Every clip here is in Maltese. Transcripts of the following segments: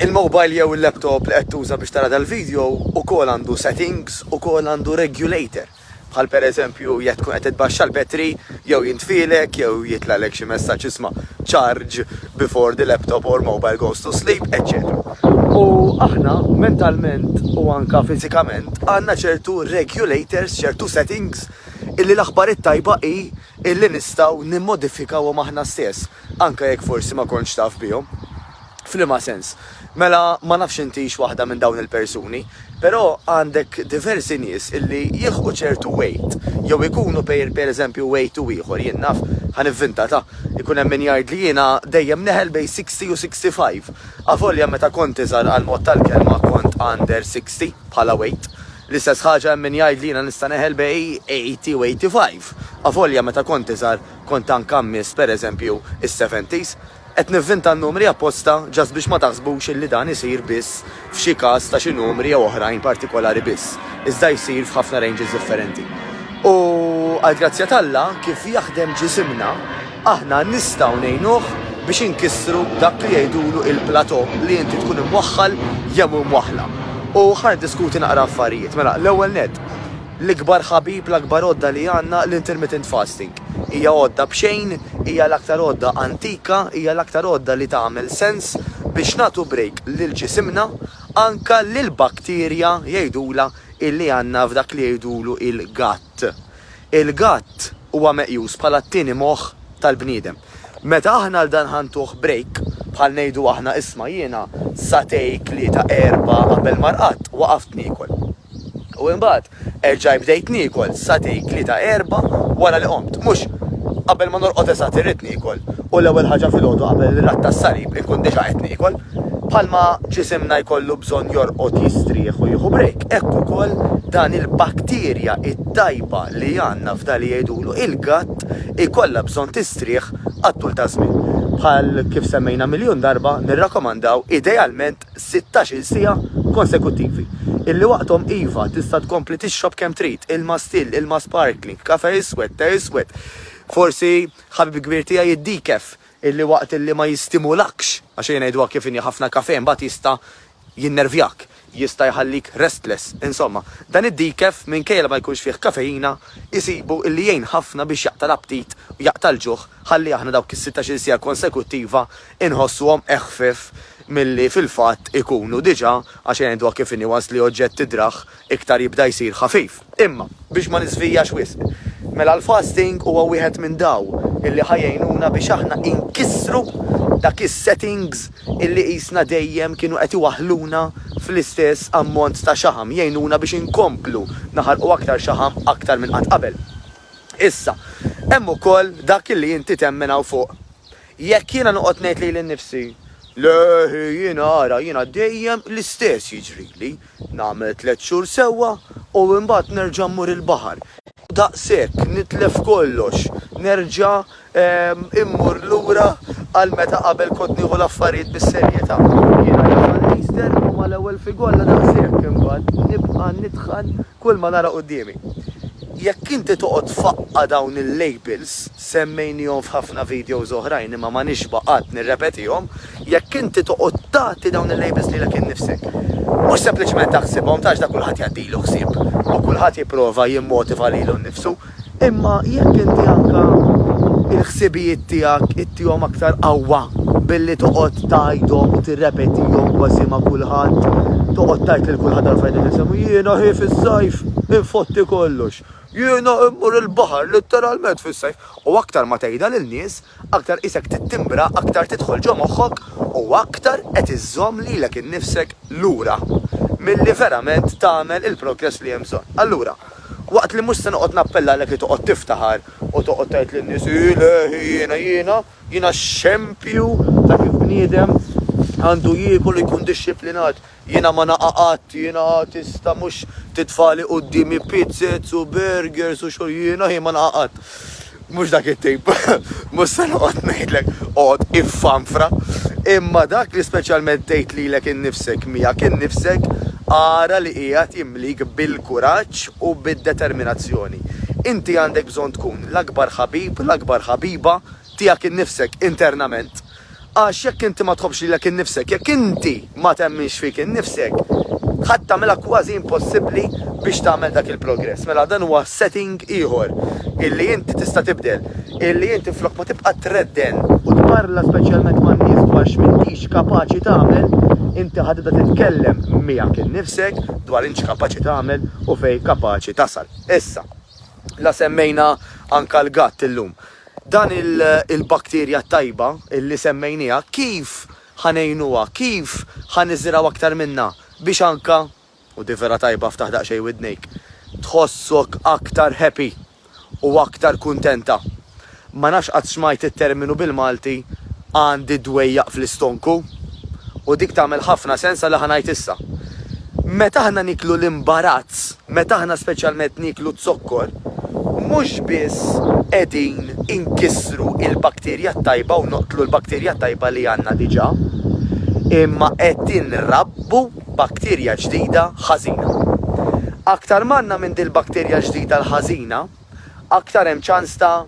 Il-mobile jew il-laptop li qed tuża biex tara dal-video ukoll għandu settings ukoll għandu regulator bħal per eżempju jekk tkun qed itbaxxa l-battery jew jintfielek jew jitlagħlek xi messaġġ isma' charge before the laptop or mobile goes to sleep eċċetera. U aħna mentalment u anka fiżikament għandna ċertu regulators, ċertu settings illi l-aħbar it-tajba hi illi nistgħu nimmodifikawhom aħna stess. Anke jekk forsi ma kontx taf bihom. F'liema sens? Mela ma nafx intix waħda minn dawn il-persuni, però għandek diversi nies illi jilħqu ċertu weight jew ikunu pereżempju weight u ieħor, jien naf, ħa nivvinta ta', ikun hemm min jgħid li jiena dejjem neħel bejn 60 u 65, avolja meta kont iżgħar għall-mod tal-kelma kont under 60 bħala weight. L-istess ħaġa hemm min jgħid li jiena nista' neħel bejn 80 u 85, avolja meta kont iżgħar. kont anke ammiss pereżempju is-seventies, qed nivvinta n-numri apposta just biex ma taħsbux illi dan isir biss f'xi każ ta' xi numri jew oħrajn partikolari biss, iżda jsir f'ħafna ranges differenti. U għall-grazzja t'Alla, kif jaħdem ġisimna, aħna nistgħu ngħinuh biex inkissru dak li jgħidulu il-plateau li inti tkun imwaħħal jew imwaħħla. U ħa niddiskuti naqra affarijiet. Mela, l-ewwel nett, L-ikbar ħabib, l-akbar għodda li għandna, l-intermittent fasting. Hija għodda b'xejn, hija l-aktar għodda antika, hija l-aktar għodda li tagħmel sens biex nagħtu break lil ġisimna, anke lill-bakterja, jgħidulha, illi għandna f'dak li jgħidulu il-gut. Il-gut huwa meqjus bħala t-tieni moħħ tal-bniedem. Meta aħna għal dan ħa ntuh break, bħal ngħidu aħna isma' jiena satej, tlieta, erbgħa qabel ma rqadt, waqaft niekol. U imbagħad erġajt bdejt niekol satej, tlieta, erbgħa wara li qomt. Mhux, Qabel ma norqod eżatt irrid niekol, u l-ewwel ħaġa filgħodu qabel ir-Radd tas-Salib inkun diġà qed niekol. Bħalma ġisimna jkollu bżonn jorqod jistrieħ u jieħu break, hekk ukoll dan il-bakterja t-tajba li għandna f'dan li jgħidulu il-gatt ikollha bżonn tistrieħ għat-tul ta' żmien. Bħal kif semmejna miljun darba, nirrakkomandaw idealment sittax-il siegħa konsekuttivi, illi waqthom iva, tista' tkompli tixrob kemm trid, ilma still, ilma sparkling, kafè iswed, te iswed, forsi ħabib kbir tiegħi id-decaf, illi waqt illi ma jistimulakx, għax ejja ngħiduha kif inhi ħafna kafè mbagħad jista' jinnervjak, jista' jħallik restless, insomma, dan id-decaf minkejja li ma jkunx fih kafeina, isibu li jgħin ħafna biex jaqta' l-aptit u jaqta' l-ġuħ ħalli aħna dawk is-sittax-il siegħa konsekuttiva inħossuhom eħfef milli fil-fatt ikunu diġà għax ngħiduha kif inhi once li oġġett tidrah iktar jibda jsir ħafif. Imma, biex ma niżvijax wisq, mela l-fasting huwa wieħed minn daw illi ħa jgħinuna biex aħna inkissru dak is-settings illi qisna dejjem kienu qed iwaħħluna fl-istess ammont ta' xaħam, jgħinuna biex inkomplu naħarqu aktar xaħam aktar minn qatt qabel. Issa, hemm ukoll dak illi inti temmen hawn fuq. Jekk jiena noqgħod ngħid lili nnifsi, Le, jiena ara, jiena dejjem l-istess jiġrili. Nagħmel tliet xhur sewwa u imbagħad nerġa' mmur il-baħar. U daqshekk nitlef kollox, nerġa' immur lura għal meta qabel kont nieħu l-affarijiet bis-serjetà. Jiena nidħal nisther u mal-ewwel figolla daqshekk imbagħad nibqa' nidħal kulma nara quddiemi. Jekk inti toqgħod faqqa' dawn il-labels, semmejnihom f'ħafna videos oħrajn imma ma nixba' qatt nirrepetihom, Jekk inti toqgħod tagħti dawn il-labels lilek innifsek, mhux sempliċement taħsibhom, tarax dak kulħadd jgħaddilu ħsieb u kulħadd jipprova jimmotiva lilu nnifsu, imma jekk inti anke l-ħsibijiet tiegħek ittihom aktar qawwa billi toqgħod tgħidhom u tirrepetihom kważi ma' kulħadd, toqgħod tgħid lil kulħadd għall-affarijiet li tinsemmu, jiena hi fis-sajf infotti kollox, jiena immur il-baħar litteralment fis-sajf, u aktar ma tgħidha lil nies, Aktar qisek tittimbra, aktar tidħol ġo moħħok u aktar qed iżżomm lilek innifsek lura milli verament tagħmel il-progress li hemm bżonn. Allura, waqt li mhux se noqgħod nappella għalek li toqgħod tiftaħar u toqgħod tgħid lin-nies, Ile, jiena, jiena, jiena xempju ta' kif bniedem għandu jiekol u jkun dixxiplinat, Jiena ma naqa' qatt, jiena tista' mhux titfagħli quddiemi pizzez u burgers u xogħol jiena jien ma naqa' qatt. Mhux dak it-tape, mhux se noqgħod ngħidlek oqgħod iffanfra, imma dak li speċjalment tgħid lilek innifsek miegħek innifsek ara li qiegħed jimlik bil-kuraġġ u bid-determinazzjoni. Inti għandek bżonn tkun l-akbar ħabib, l-akbar ħabiba tiegħek innifsek internament. Għax jekk inti ma tħobbx lilek innifsek, jekk inti ma temminx fik innifsek, ħadd tagħmilha kważi impossibbli biex tagħmel dak il-progress. Mela dan huwa setting ieħor illi inti tista' tibdel, illi inti flok ma tibqa' tredden u tparla speċjalment man-nies dwar x'mintix kapaċi tagħmel, inti ħa tibda titkellem miegħek innifsek dwar int x'kapaċi tagħmel u fejn kapaċi tasal. Issa. La semmejna anka l-gatt illum. Dan il-bakterja t-tajba li semmejnieha kif ħa ngħinuha, kif ħa niżrgħu aktar minnha biex anka, u di vera tajba ftaħ daqsxejn widnejk, tħossok aktar happy u aktar kuntenta. Ma nafx qatt smajt it-terminu bil-Malti għandi d-dwejjaq fl-istonku, u dik tagħmel ħafna sens għal li ħa ngħid issa. Meta aħna nieklu l-imbarazz, meta aħna speċjalment nieklu z-zokkor, mhux biss qegħdin inkissru l-bakterja t-tajba u noqtlu l-bakterja t-tajba li għandna diġà, imma qed inrabbu bakterja ġdida ħażina. Aktar m'għandna minn dil-bakterja ġdida l-ħażina, aktar hemm ċans ta'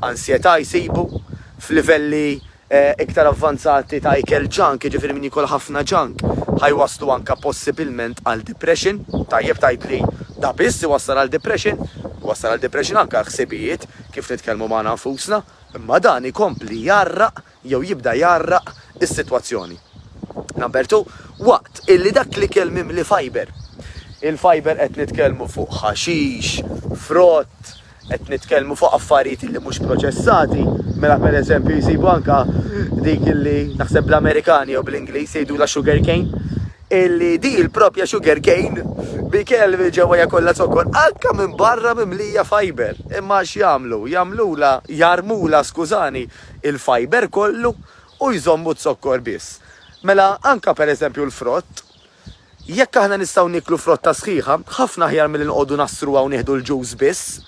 ansjetà jsibu, f'livelli iktar avvanzati ta' ikel junk, jiġifieri min jiekol ħafna junk ħa jwasslu anke possibilment għal depression. Tajjeb tgħid li da biss iwassal għal depression? Iwassal għal depression anke għal ħsibijiet, kif nitkellmu magħna nfusna, imma dan ikompli jgħarraq jew jibda jgħarraq is-sitwazzjoni. Number two, waqt illi dak l-ikel mimli fiber, il-fiber qed nitkellmu fuq ħaxix, frott, qed nitkellmu fuq affarijiet illi mhux proċessati, mela pereżempju jsibu anke dik illi naħseb bl-Amerikani jew bl-Ingliż jgħidulha sugar cane, illi di l-propja sugar cane bi kelmi ġewwa kollha zokkor anke minn barra mimlija fiber. Imma x'jagħmlu? Jagħmlula, jarmula skużani, il-fiber kollu u jżommu z-zokkor biss. Mela anke per eżempju l-frott, jekk aħna nistgħu nieklu frotta sħiħa, ħafna aħjar milli noqogħdu ngħassruha u nieħdu l-ġus biss,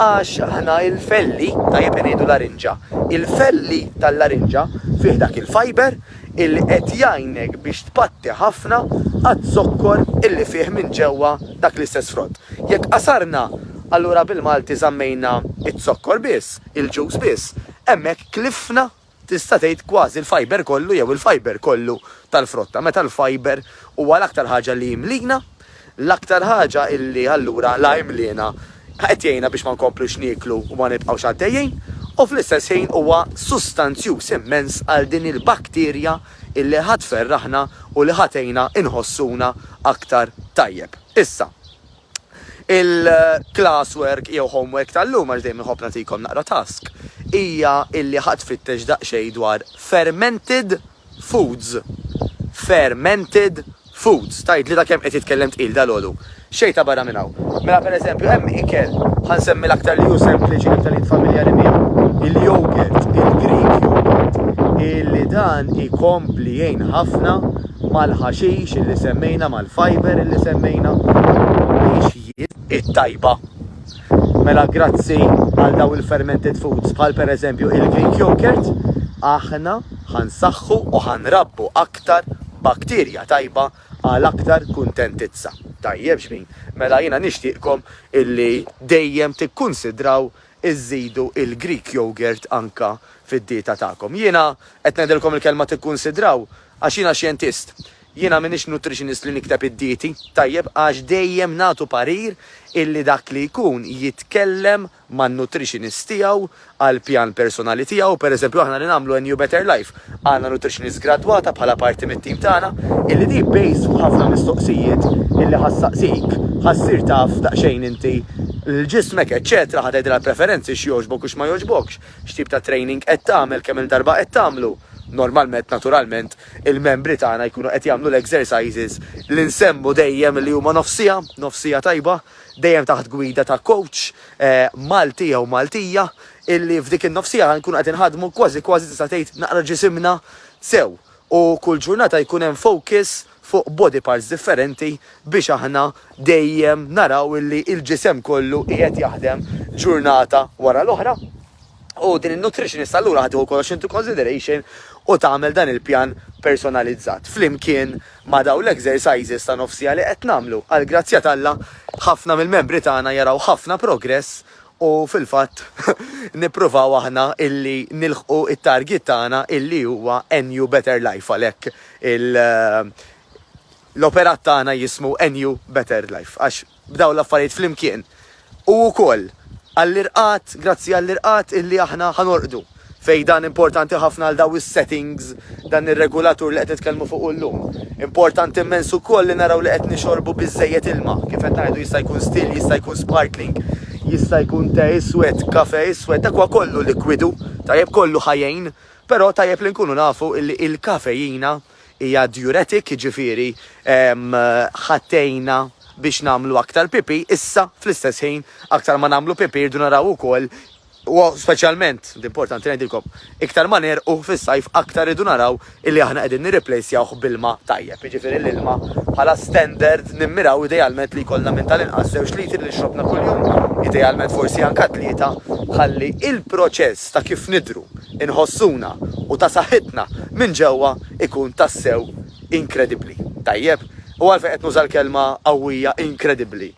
għax aħna il-felli, tajjeb li ngħidu larinġa, il-felli tal-larinġa fih dak il-fiber illi qed jgħinek biex tpatti ħafna għaz-zokkor illi fih minn ġewwa dak l-istess frott. Jekk qasarna, allura bil-Malti żammejna z-zokkor biss. il-ġuż biss, hemmhekk klifna tista' tgħid kważi l-fiber kollu jew il-fiber kollu tal-frotta meta l-fiber huwa l-aktar ħaġa li jimlina, l-aktar ħaġa li allura la imliena qed jgħinna biex ma nkomplux nieklu u ma nibqgħux għaddejjin u fl-istess ħin huwa sustanzjuż immens għal din il-bakterja li ħa tferraħna u li ħa tgħinna nħossuna aktar tajjeb. Issa, Il-class work jew home work tal-lum, għax dejjem inħobb nagħtikom naqra task, hija illi ħa tfittex daqsxejn dwar fermented foods. Fermented foods. Tgħidli ta' kemm qed jitkellem tqil dalgħodu. Xejn ta' barra minn hawn. Mela per eżempju hemm ikel, ħa nsemmi l-aktar li hu sempliċi, l-aktar li int familjari miegħu, il-yogurt, il-Greek yogurt, illi dan ikompli jgħin ħafna mal-ħaxix illi semmejna, mal-fibre illi semmejna, biex jid. It-tajba. Mela grazzi għal daw il-fermented foods bħal pereżempju il-Greek yogurt, aħna ħansaħħu u ħanrabbu aktar bakterja tajba għal aktar kuntentizza. Tajjeb x'ħin. Mela jiena nixtieqkom illi dejjem tikkunsidraw iżżidu il-Greek yogurt anke fid-dieta tagħkom. Jiena qed ngħidilkom il-kelma tikkunsidraw għax jiena xjentist. Jiena m'iniex nutritionist li nikteb id-dieti, tajjeb, għax dejjem nagħtu parir illi dak li jkun jitkellem man-nutritionist tiegħu għall-pjan personali tiegħu, pereżempju aħna li nagħmlu NU Better Life, Għandna nutritionist gradwata bħala parti mit-tim tagħna illi di based fuq ħafna mistoqsijiet illi ħa ssaqsik, ħa ssir taf daqsxejn inti l-ġismek eċċetera, ħa tgħidilha l-preferenzi x'jogħġbok u x'ma jogħġbokx, x'tip ta' training qed tagħmel, kemm-il darba qed tagħmlu. Normalment, naturalment, il-membri tagħna jkunu qed jagħmlu l-exercises li nsemmu dejjem illi huma nofs siegħa, nofs siegħa tajba, dejjem taħt gwida ta' coach Malti jew Maltija illi f'dik in-nofsiegħa ħa nkunu qed inħaddmu kważi kważi tista' tgħid naqra ġisimna sew u kull ġurnata jkun hemm focus fuq body parts differenti biex aħna dejjem naraw illi l-ġisem kollu qiegħed jaħdem ġurnata wara l-oħra u din in-nutritionist allura ħa tieħu kollox into consideration u tagħmel dan il-pjan personalizzat flimkien ma' dawn l-exercises ta' nofsiegħa li qed nagħmlu. Għall-grazzja t'Alla ħafna mill-membri tagħna jaraw ħafna progress U fil-fatt nippruvaw aħna illi nilħqu t-target tagħna illi huwa NU Better Life għalhekk il l-operat tagħna jismu NU Better Life għax b'dawn l-affarijiet flimkien u wkoll għall-irqad grazzi għall-irqad illi aħna ħa norqdu. Fejn dan importanti ħafna għal dawn is-settings, dan ir-regulatur li qed nitkellmu fuqu llum. Importanti immens ukoll li naraw li qed nixorbu biżżejjed ilma. Kif qed ngħidu jista' jkun still, jista' jkun sparkling, jista' jkun te iswed, kafe iswed, dak huwa kollu likwidu, tajjeb kollu ħa jgħin, però tajjeb li nkunu nafu li l-kafeina hija diuretic, jiġifieri ħa tgħinna biex nagħmlu aktar pipì, issa fl-istess ħin aktar ma nagħmlu pipì rridu naraw ukoll Huwa speċjalment, importanti ngħidilkom, iktar ma negħrqu fis-sajf aktar irridu naraw illi aħna qegħdin nirriplejsjawh b'ilma tajjeb, jiġifieri l-ilma bħala standard nimmiraw idealment li jkollna minn tal-inqas żewġ litri li xrobna kuljum, idealment forsi anka tlieta, ħalli il-proċess ta' kif nidhru, inħossuna u ta' saħħitna minn ġewwa jkun tassew inkredibbli. Tajjeb? U għalfejn qed nuża l-kelma qawwija inkredibbli?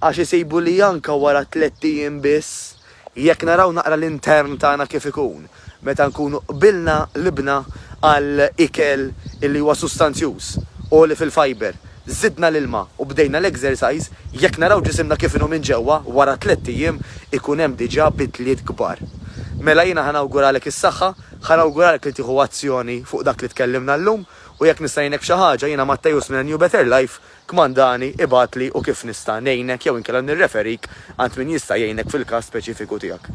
Għax isibu li anke wara tlett ijiem biss, jekk naraw naqra l-intern tagħna kif ikun, meta nkunu qbilna qlibna għal ikel illi huwa sustanzjuż, għoli fil-fibre, żidna l-ilma u bdejna l-exercise, jekk naraw ġisimna kif inhu minn ġewwa, wara tlett ijiem ikun hemm diġà bidliet kbar. Mela jiena ħa nawguralek is-saħħa, ħa nawguralek li tieħu azzjoni fuq dak li tkellimna llum u jekk nista' ngħinek b'xi ħaġa, jiena Matteus minn A New Better Life, Kmandani, ibgħatli u kif nista' ngħinek jew inkella nirreferik għand min jista' jgħinek fil-każ speċifiku tiegħek.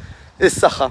Is-saħħa.